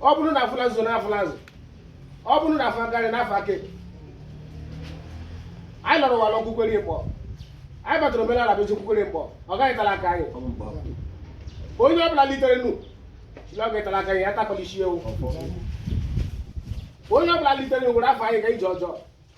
ọ bụrụ na afụla nso na afụla azụ ọ bụrụ na afọ aka nri na afọ aka ekpe anyị lọrọ ụwa lọkwukwere mkpọ anyị batara omenala bụ ezikwukwere mkpọ ọ gaghị tara aka anyị onye ọ bụla litere nu sị la ọ ga-etara aka anyị ya takwala isi ewu onye ọ bụla litere nu were afa anyị ga ije ọjọọ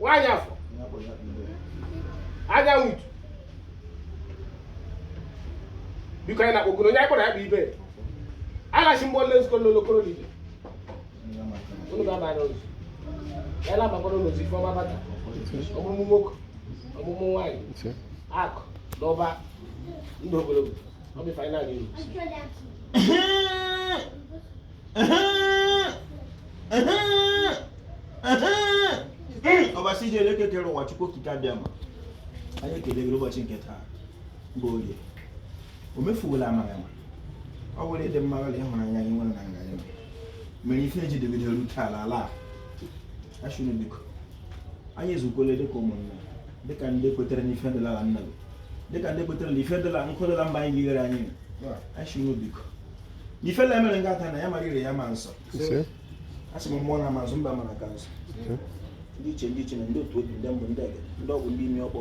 nwaanyị afọ anya nwutu biko anyị na-akpọgoro onye anyị kpọrọ ya bụ ibe alachi mgbe ole nzukọ n'olokoro niile unu ga-aba n'ụzọ ya na-abakwara n'ụzọ ife ọma bata ọmụmụ nwoke ọmụmụ nwaanyị akụ na ụba ndụ ogologo ọ bụ ife anyị na-ayọ unu ọbasi ji elu eke kere ụwa chukwu okike abịama anyị ekele gị ụbọchị nke taa bụ oge o mefuwela amaghị ama ọ bụrụ ịdị mma gị la ịhụnanya ị nwere na nga anyị mere ife e ji dịgidere rute ala ala a anyị sịrị biko anyị ezukwele dịka ụmụnna dịka ndị kwetere n'ife dịla ala nna gị dịka ndị kwetere na ife dịla nkụ dịla mba anyị gighere anyị sịrị biko ife la-emere nga ata na ya mara ire ya ma nsọ asị m mmụọ na amazụ mba mana ka nsọ ndị ichie ndị ichie na ndị otu obi ndị mbụ ndị egede ndị ọgwụ ndị imi ọkpọ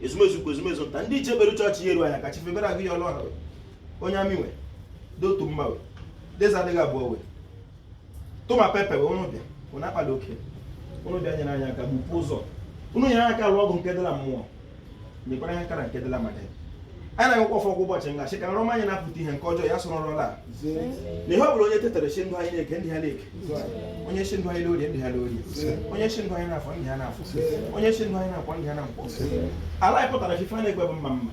ezumezu ukwu ezumezu nta ndị ichie bere chọọchị ya eru anya ka chifebere agụ ya ọlụ ọha onye amị nwe dotu mma we deza adịghị abụọ we toma pepe wee ụnụ bịa ụnụ akpala oke ụnụ bịa nyere anyị aka gbupụ ụzọ ụnụ nyere aka lụọ ọgụ nke dịla mmụọ nyekwara anyị aka na nke dịla mmadụ anyị na-agọkwa ọfọ ka ụbọchị nga chi ka nrọ ọma anyị na-apụta ihe nke ọjọọ ya soro ụra laa na ihe ọ bụla onye tetara sị ndụ anyị n'eke ndị ha n'eke onye sị ndụ anyị n'orie ndị ha n'orie onye sị ndụ anyị n'afọ ndị ha n'afọ onye sị ndụ anyị na nkwọ ndị ha na nkwọ ala anyị pụtara ife a na-ekwe bụ mma mma